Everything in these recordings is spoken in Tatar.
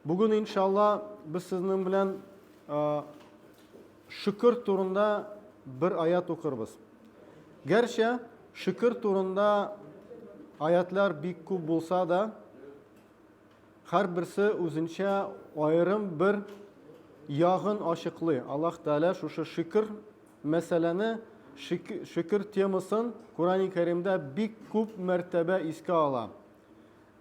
Бүген иншалла без сезнең белән шөкер турында бер аят укырбыз. Гәрчә шөкер турында аятлар бик күп булса да, һәрберсе үзенчә аерым бер ягын ачыклый. Аллаһ Тәгалә шушы шөкер мәсьәләне, шөкер темасын Коръәни Кәримдә бик күп мәртәбә искә ала.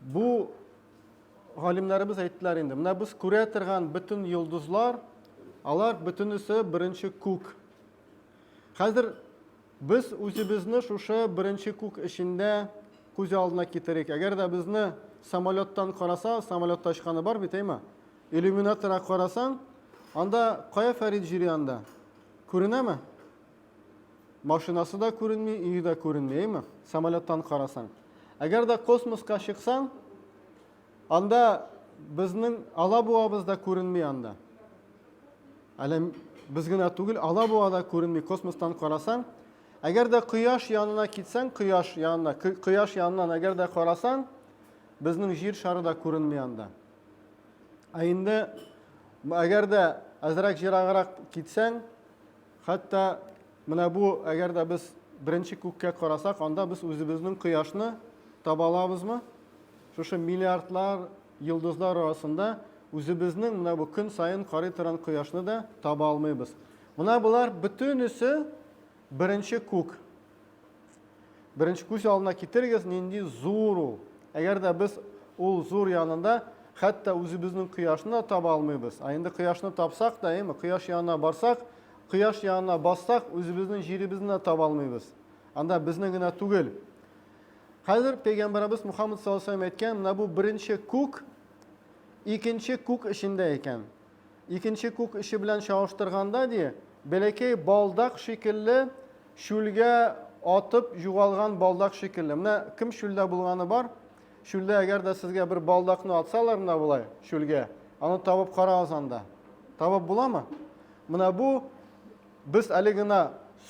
Бу галимнәребез әйттеләр инде. Менә без күрә торган бөтен йолдызлар, алар бөтенесе беренче күк. Хәзер без үзебезне шушы беренче күк эчендә күз алдына китерик. Әгәр дә безне самолеттан караса, самолетта очканы бар бит, әйме? Иллюминатора карасаң, анда кая Фәрид җири анда? Күренәме? Машинасы да күренми, өе дә күренми, әйме? Самолеттан карасаң. Әгәр дә космоска чыксаң, анда безнең алабуабыз да күренми анда. Әле без генә түгел, алабуа да күренми космостан карасаң. Әгәр дә кояш янына китсәң, кояш янына, кояш янынан әгәр дә карасаң, безнең җир шары да күренми анда. Ә инде әгәр дә әзрәк җираграк китсәң, Хәтта менә бу, әгәр дә без беренче күккә карасак, анда без үзебезнең кояшны таба алабызмы? Шушы миллиардлар йолдызлар арасында үзебезнең менә бу көн саен карый торган кояшны да таба алмыйбыз. Менә болар бөтенесе беренче күк. Беренче күз алдына китерегез, нинди зур ул. Әгәр дә без ул зур янында хәтта үзебезнең кояшны да таба алмыйбыз. Ә инде кояшны тапсак та, әйме, кояш янына барсак, кояш янына бассак, үзебезнең җиребезне дә таба алмыйбыз. Анда безнең генә түгел. Хәзер пәйгамбәребез Мухаммад саллаллаху алейһи әйткән, менә бу беренче күк икенче күк эчендә икән. Икенче күк эче белән чагыштырганда, ди, бәләкәй балдак шикелле, чүлгә атып югалган балдак шикелле. Менә кем чүлдә булганы бар? Чүлдә әгәр дә сезгә бер балдакны атсалар менә болай чүлгә, аны табып карагыз анда. Табып буламы? Менә бу без әле генә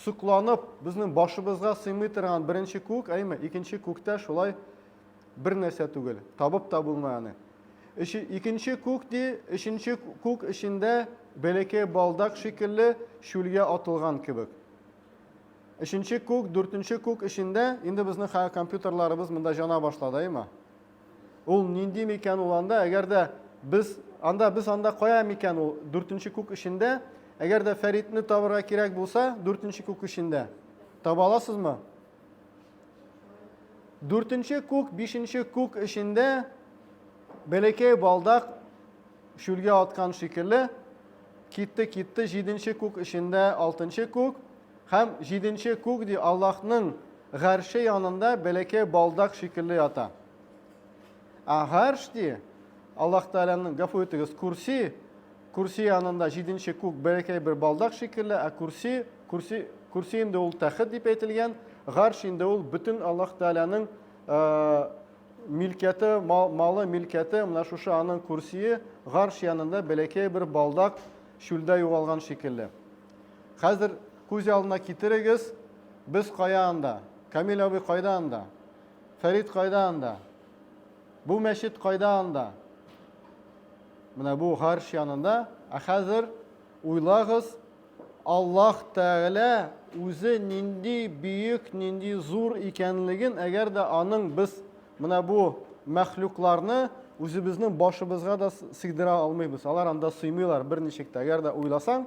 сокланып, безнең башыбызга сыймый торган беренче күк, әйме, икенче күктә шулай Бер нәрсә түгел, табып та булмый аны. Өче, икенче күк ди, өченче күк эчендә бәләкәй балдак шикелле чүлгә атылган кебек. Өченче күк, дүртенче күк эчендә, инде безнең хәзер компьютерларыбыз монда җана башлады, әйме? Ул нинди микән ул анда, әгәр дә без анда без анда кая микән ул дүртенче күк эчендә, әгәр дә Фәритне табырга кирәк булса, дүртенче күк эчендә. Таба аласызмы? Дүртенче күк, бишенче күк эчендә бәләкәй балдак шүлгә аткан шикелле китте, китте җиденче күк эчендә алтынчы күк һәм җиденче күк ди Аллаһның гарше янында бәләкәй балдак шикелле ята. Ә гарш ди Аллаһ Тәгаләнең гафу итегез, курси Көрси янында җиденче күк бәләкәй бер балдак шикелле, ә көрси, көрси, көрси инде ул тәхет дип әйтелгән, гарш инде ул бөтен Аллаһ Тәгаләнең милкәте, малы, милкәте, менә шушы аның көрсие, гарш янында бәләкәй бер балдак чүлдә югалган шикелле. Хәзер күз алдына китерегез, без кая анда? Камил абый кайда анда? Фәрит кайда анда? Бу мәчет кайда анда? Менә бу гарш янында. Ә хәзер уйлагыз, Аллаһ Тәгалә үзе нинди бөек, нинди зур икәнлеген, әгәр дә аның без менә бу мәхлукларны үзебезнең башыбызга да сыйдыра алмыйбыз. Алар анда сыймыйлар берничек тә. Әгәр дә уйласаң,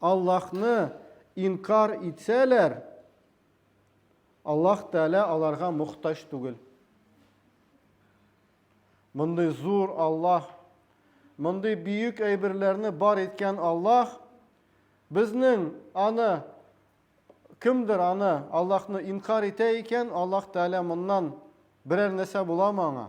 Аллаһны инкарь итсәләр, Аллаһ Тәгалә аларга мохтаҗ түгел. Мондый зур Аллаһ, мондый бөек әйберләрне бар иткән Аллаһ безнең аны кемдер аны Аллаһны инкар итә икән, Аллаһ Тәгалә моннан берәр нәрсә буламы аңа?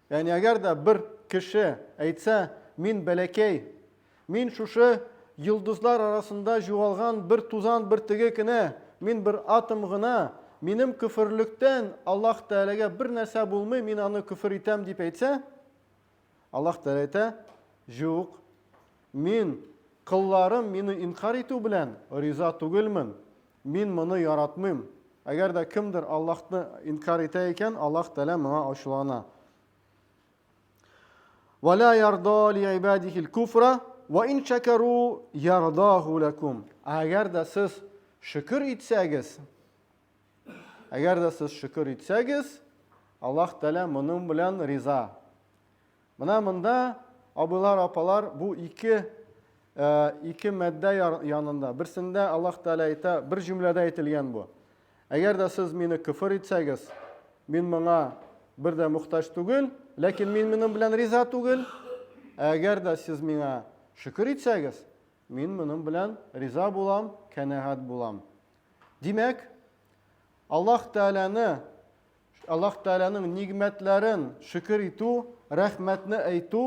Ягъни әгәр дә бер кеше әйтсә, мин бәләкәй, мин шушы йолдызлар арасында җуалган бер тузан бөртеге кенә, мин бер атом гына, минем көферлектән Аллаһ Тәгаләгә бер нәрсә булмый, мин аны көфер итәм, дип әйтсә, Аллаһ Тәгалә әйтә, Җук, Мин, колларым мине инкарь итү белән, риза түгелмен. Мин моны яратмыйм. Әгәр дә кемдер Аллаһны инкарь итә икән, Аллаһ Тәгалә моңа ачулана. Ва ла ярда ли ибадихил куфра ва ин шакару ярдаху лакум. Әгәр дә сез шөкер итсәгез, әгәр дә сез шөкер итсәгез, Аллаһ Тәгалә моның белән риза. Менә монда, абыйлар, апалар, бу ике, ә, ике мәддә янында. Берсендә Аллаһ Тәгалә әйтә, бер җөмләдә әйтелгән бу. Әгәр дә сез мине көфер итсәгез, мин моңа бер дә мөхтаҗ түгел, ләкин мин моның белән риза түгел. Әгәр дә сез миңа шөкер итсәгез, мин моның белән риза булам, канәгать булам. Димәк, Аллаһ Тәгаләне Аллаһ Тәгаләнең нигъмәтләрен шөкер итү, рәхмәтне әйтү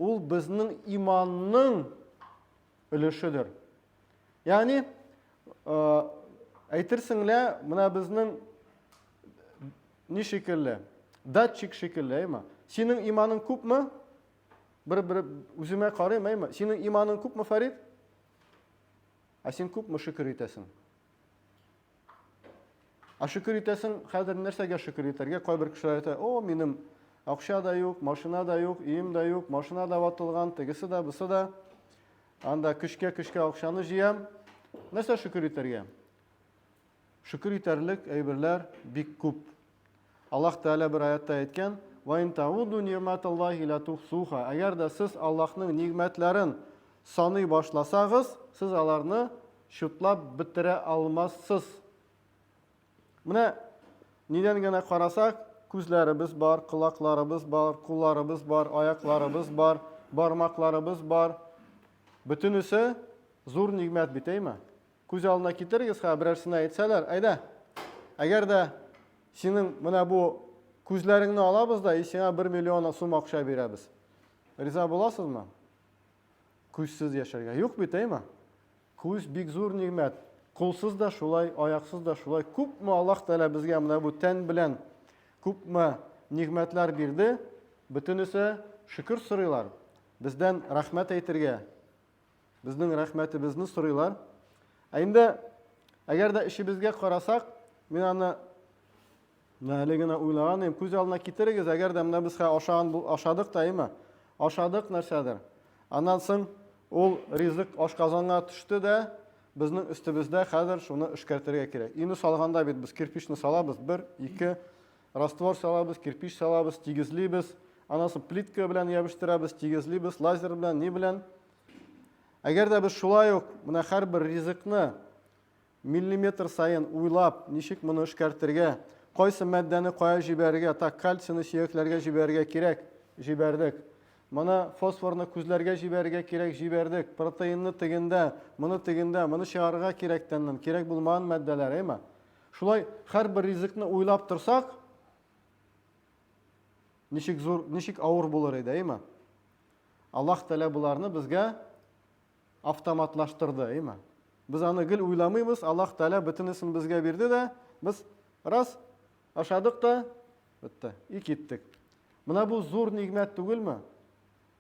ул безнең иманның өлешедер. Ягъни әйтерсең лә менә безнең ни шикелле? Датчик шикелле, әйме? Синең иманың күпме? Бер бер үземә карыйм, әйме? Синең иманың күпме, Фарид? Ә син күпме шөкер итәсең? А шөкер итәсең, хәзер нәрсәгә шөкер итәргә? Кайбер кешеләр әйтә, о, минем акча да юк, машина да юк, өем дә юк, машина да ватылган, тегесе дә, бусы да. Анда көчкә-көчкә акчаны җыям. Нәрсә шөкер итәргә? Шөкер итәрлек әйберләр бик күп. Аллаһ Тәгалә бер аятта әйткән, Ва ин тауду нигъматаллахи ла тухсуха. Әгәр дә сез Аллаһның нигъмәтләрен саный башласагыз, сез аларны чутлап бетерә алмассыз. Менә нидән генә карасак, күзләребез бар, колакларыбыз бар, кулларыбыз бар, аякларыбыз бар, бармакларыбыз бар. Бөтенесе зур нигъмәт бит, әйме? Күз алдына китерегез, ха, берәр сина әйтсәләр, әйдә. Әгәр дә синең менә бу күзләреңне алабыз да, и сиңа бер миллион сум акча бирәбез. Риза буласызмы? Күзсез яшәргә. Юк бит, әйме? Күз бик зур нигмәт. Кулсыз да шулай, аяксыз да шулай. Күпме Аллаһ Тәгалә безгә менә бу тән белән күпме нигмәтләр бирде. Бөтенесе шөкер сорыйлар. Бездән рәхмәт әйтергә, Безнең рәхмәтебезне сорыйлар. Ә инде әгәр дә эшебезгә карасак, мин аны менә әле генә уйлаган идем. Күз алдына китерегез, әгәр дә менә без ашаган ашадык та, әйме? Ашадык нәрсәдер. Аннан соң ул ризык ашказанга төште дә, безнең өстебездә хәзер шуны эшкәртергә кирәк. Өйне салганда бит без кирпичны салабыз, бер, ике, Раствор салабыз, кирпич салабыз, тигезлибез. Аннан соң плитка белән ябештырабыз, тигезлибез, лазер белән, ни белән. Әгәр дә без шулай ук менә һәрбер ризыкны миллиметр саен уйлап, ничек моны эшкәртергә, кайсы матдәне кая җибәрергә, так, кальцины сөякләргә җибәрергә кирәк, җибәрдек. Моны фосфорны күзләргә җибәрергә кирәк, җибәрдек. Протеинны тегендә, моны тегендә, моны чыгарырга кирәк тәннән, кирәк булмаган матдәләр, әйме? Шулай һәрбер ризыкны уйлап торсак, ничек зур, ничек авыр булыр иде, әйме? Аллаһ Тәгалә боларны безгә автоматлаштырды, әйме? Без аны гел уйламыйбыз, Аллаһ Тәгалә бөтенесен безгә бирде дә, без раз ашадык та, бетте, и киттек. Менә бу зур нигмәт түгелме?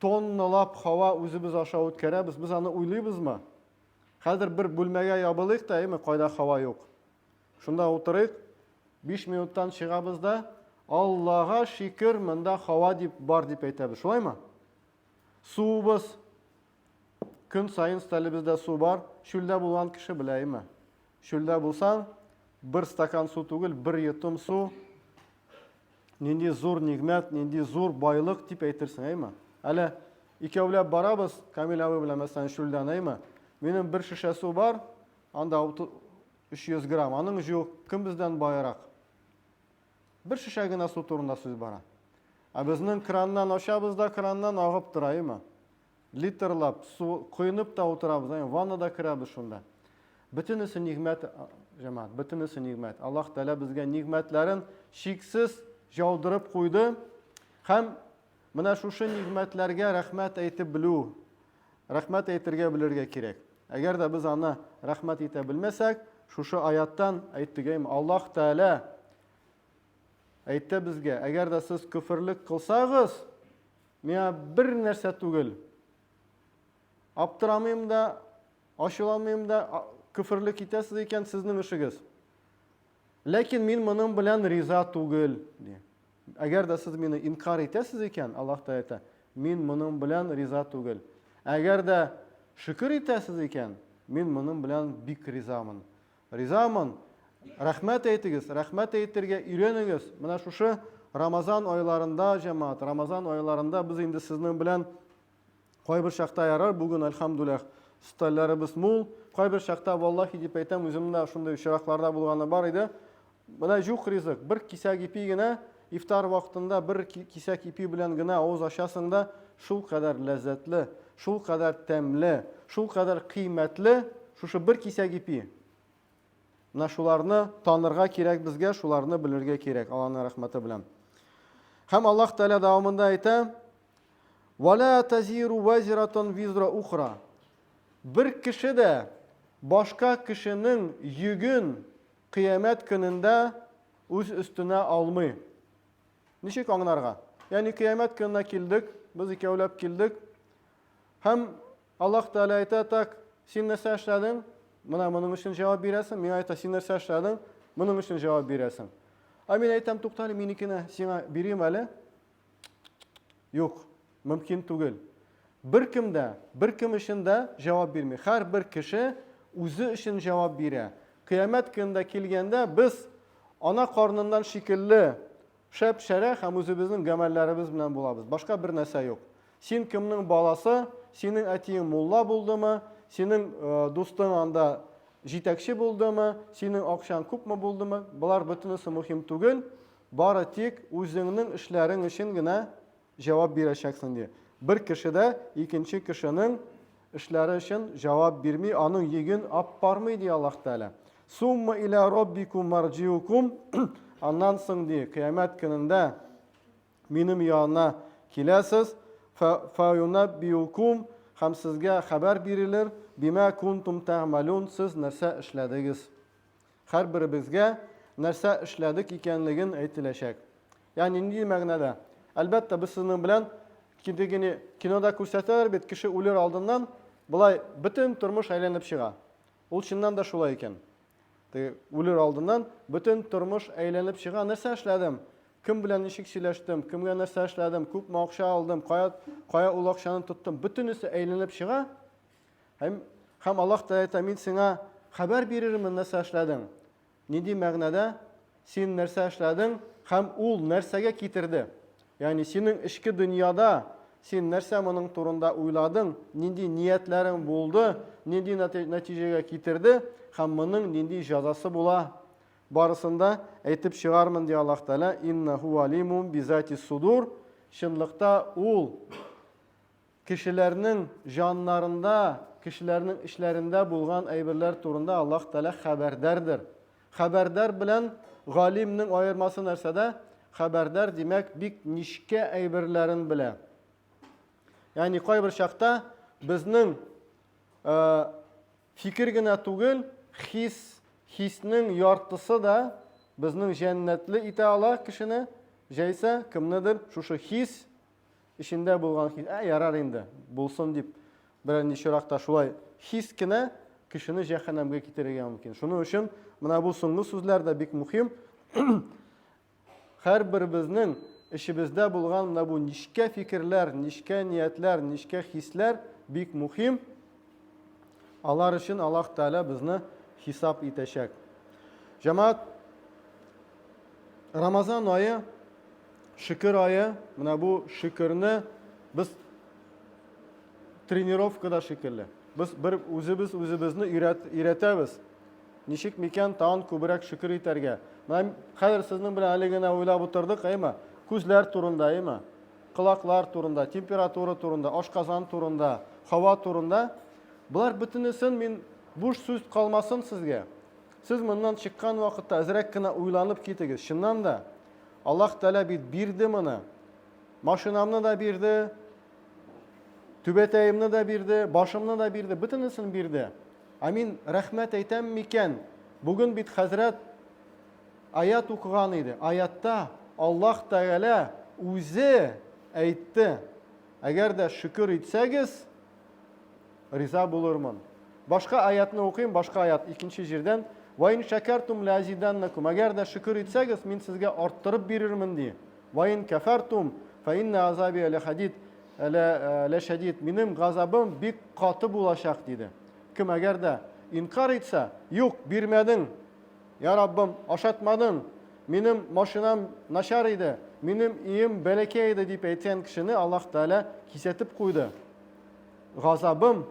Тонналап һава үзебез аша үткәрәбез, без аны уйлыйбызмы? Хәзер бер бүлмәгә ябылыйк та, әйме, кайда һава юк. Шунда утырыйк, биш минуттан чыгабыз да, Аллага шикер, монда һава дип бар дип әйтәбез. Шулаймы? Суыбыз. Көн саен стәлебездә су бар. Чүлдә булган кеше белә, әйме? Чүлдә булсаң, бер стакан су түгел, бер йотым су Нинди зур нигмәт, нинди зур байлык дип әйтерсең, әйме? Әле икәүләп барабыз, Камил абый белән мәсәлән чүлдән, әйме? Минем бер шешә су бар, анда 300 грамм, аның юк, кем бездән байрак? Бер шешә генә су турында сүз бара. Ә безнең краннан ачабыз да, краннан агып тора, әйме? литрлап су коенып та утырабыз, әй, ваннада керәбез шунда. Бөтенесе нигъмәт, җәмәгать, бөтенесе нигъмәт. Аллаһ Тәгалә безгә нигъмәтләрен шиксез яудырып куйды. Һәм менә шушы нигъмәтләргә рәхмәт әйтеп белү, рәхмәт әйтергә белергә кирәк. Әгәр дә без аны рәхмәт итә белмәсәк, шушы аяттан әйттегәйм, Аллаһ Тәгалә әйтте безгә, әгәр дә сез көферлек кылсагыз, Миңа бер нәрсә түгел. Аптырамыйм да, ачуланмыйм да, көферлек итәсез икән, сезнең эшегез. Ләкин мин моның белән риза түгел, ди. Әгәр дә сез мине инкар итәсез икән, Аллаһ та әйтә, мин моның белән риза түгел. Әгәр дә шөкер итәсез икән, мин моның белән бик ризамын. Ризамын! Рәхмәт әйтегез, рәхмәт әйтергә өйрәнегез. Менә шушы Рамазан айларында, җәмәгать, Рамазан айларында без инде сезнең белән кайбер чакта ярар, бүген, альхамдуллах, стальләребез мул. Кайбер чакта, валлахи дип әйтәм, үземнең дә шундый очракларда булганы бар иде. Менә җук ризык, бер кисәк ипи генә, ифтар вакытында бер кисәк ипи белән генә авыз ачасың да, шул кадәр ләззәтле, шул кадәр тәмле, шул кадәр кыйммәтле шушы бер кисәк ипи. Менә шуларны танырга кирәк безгә, шуларны белергә кирәк, Аллаһның рәхмәте белән. Һәм Аллаһ Тәгалә дәвамында әйтә: "Вала тазиру вазиратун визра ухра". Бер кеше дә башка кешенең йөген Кыямәт көнендә үз өстенә алмый. Ничек аңнарга? Ягъни кыямәт көненә килдек, без икәүләп килдек. Һәм Аллаһ Тәгалә әйтә, так, син нәрсә эшләдең? Менә моның өчен җавап бирәсең. Миңа әйтә, син нәрсә эшләдең? Моның өчен җавап бирәсең. Ә мин әйтәм, туктале, минекенә сиңа бирим әле. Юк, мөмкин түгел. Беркем дә, беркем өчен дә җавап бирми. Һәрбер кеше үзе өчен җавап бирә. Кыямәт көнендә килгәндә без ана карныннан шикелле шәп-шәрә һәм үзебезнең гамәлләребез белән булабыз. Башка бер нәрсә юк. Син кемнең баласы? Синең әтиең мулла булдымы? Синең э, дустың анда җитәкче булдымы? Синең акчаң күпме булдымы? Болар бөтенесе мөһим түгел. Бары тик үзеңнең эшләрең өчен генә җавап бирәчәксең, ди. Бер кеше дә икенче кешенең эшләре өчен җавап бирми, аның йөген аппармый, ди Аллаһ Тәгалә. Сумма илә роббикум марҗиукум, аннан соң, ди, кыямәт көнендә минем янына киләсез, фәюнәббиукум, һәм сезгә хәбәр бирелер, бимә кунтум тәгъмәлун, сез нәрсә эшләдегез. Һәрберебезгә нәрсә эшләдек икәнлеген әйтеләчәк. Ягъни нинди мәгънәдә? Әлбәттә, без сезнең белән кидегене кинода күрсәтәләр бит, кеше үлер алдыннан болай бөтен тормыш әйләнеп чыга. Ул чыннан да шулай икән. Теге үлер алдыннан бөтен тормыш әйләнеп чыга. Нәрсә эшләдем? Кем белән ничек сөйләштем? Кемгә нәрсә эшләдем? Күпме акча алдым? Кая, кая ул акчаны тоттым? Бөтенесе әйләнеп чыга. Һәм, һәм Аллаһ Тәгалә әйтә, мин сиңа хәбәр бирермен, нәрсә эшләдең. Нинди мәгънәдә син нәрсә эшләдең һәм ул нәрсәгә китерде? Ягъни синең эчке дөньяда син нәрсә моның турында уйладың, нинди ниятләрең булды, нинди нәтиҗәгә китерде һәм моның нинди җәзасы була? Барысын да әйтеп чыгармын, ди Аллаһ Тәгалә, иннаху алимум бизати судур. Чынлыкта ул Кешеләрнең җаннарында, кешеләрнең эчләрендә булган әйберләр турында Аллаһ Тәгалә хәбәрдәрдер. Хәбәрдар белән галимнең аермасы нәрсәдә? Хәбәрдар, димәк, бик нечкә әйберләрен белә. Ягъни кайбер чакта безнең э, фикер генә түгел, хис, хиснең яртысы да безнең җәннәтле итә ала кешене, җәйсә кемнедер шушы хис Эчендә булган хис, ә ярар инде, булсын дип, берәр ничрак та шулай хис кенә кешене җәһәннәмгә китерергә мөмкин. Шуның өчен менә бу соңгы сүзләр дә бик мөһим. Һәрберебезнең эчебездә булган менә бу нечкә фикерләр, нечкә ниятләр, нечкә хисләр бик мөһим. Алар өчен Аллаһ Тәгалә безне хисап итәчәк. Җәмәгать, Рамазан ае, шөкер ае, менә бу шөкерне без тренировкада шикелле. Без бер үзебез үзебезне өйрәтәбез. Ничек микән тагын күбрәк шөкер итәргә? Менә хәзер сезнең белән әле генә уйлап утырдык, әйме? Күзләр турында, әйме? Колаклар турында, температура турында, ашказан турында, һава турында. Болар бөтенесен мин буш сүз калмасын сезгә. Сез моннан чыккан вакытта әзрәк кенә уйланып китегез. Чыннан да, Аллаһ Тәгалә бит бирде моны. Машинамны да бирде, түбәтәемне дә бирде, башымны да бирде, бөтенесен бирде. Ә мин рәхмәт әйтәм микән? Бүген бит хәзрәт Аять укыган иде. Аятта Аллаһ Тәгалә үзе әйтте, Әгәр дә шөкер итсәгез, риза булырмын. Башка аятны укыйм, башка аят икенче җирдән. Ва ин шәкәртум ләзиданнакум. Әгәр дә шөкер итсәгез, мин сезгә арттырып бирермен ди. Ва ин кафартум фа инна азаби ла хадид ла шадид. Минем газабым бик каты булачак диде. Кем әгәр дә инкар итсә, юк, бирмәдең, Я Раббым, ашатмадың! Минем машинам начар иде, минем өем бәләкәй иде, дип әйткән кешене Аллаһ Тәгалә кисәтеп куйды. Газабым,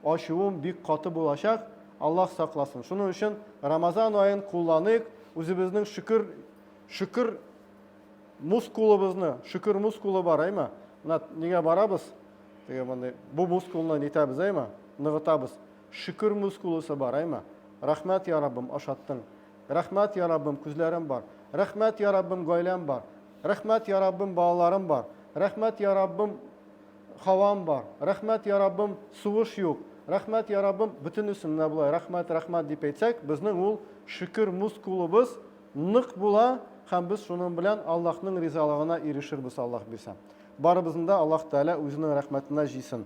ачуым бик каты булачак, Аллаһ сакласын. Шуның өчен Рамазан аен кулланыйк, үзебезнең шөкер шөкер мускулыбызны, шөкер мускулы бар, әйме? Менә нигә барабыз? Теге мондый бу мускулны нитәбез, әйме? Ныгытабыз. Шөкер мускулосы бар әйма. Рәхмәт я Раббым ашаттың. Рәхмәт я Раббым күзләрем бар. Рәхмәт я Раббым гаиләм бар. Рәхмәт я Раббым балаларым бар. Рәхмәт я Раббым һавам бар. Рәхмәт я Раббым сугыш юк. Рәхмәт я Раббым бөтенесен менә болай рәхмәт рәхмәт дип әйтсәк безнең ул шөкер мускулыбыз нык була һәм без шуның белән Аллаһның ризалыгына ирешербез Аллаһ бирсә. Барыбызны да Аллаһ Тәгалә үзенең рәхмәтенә җыйсын.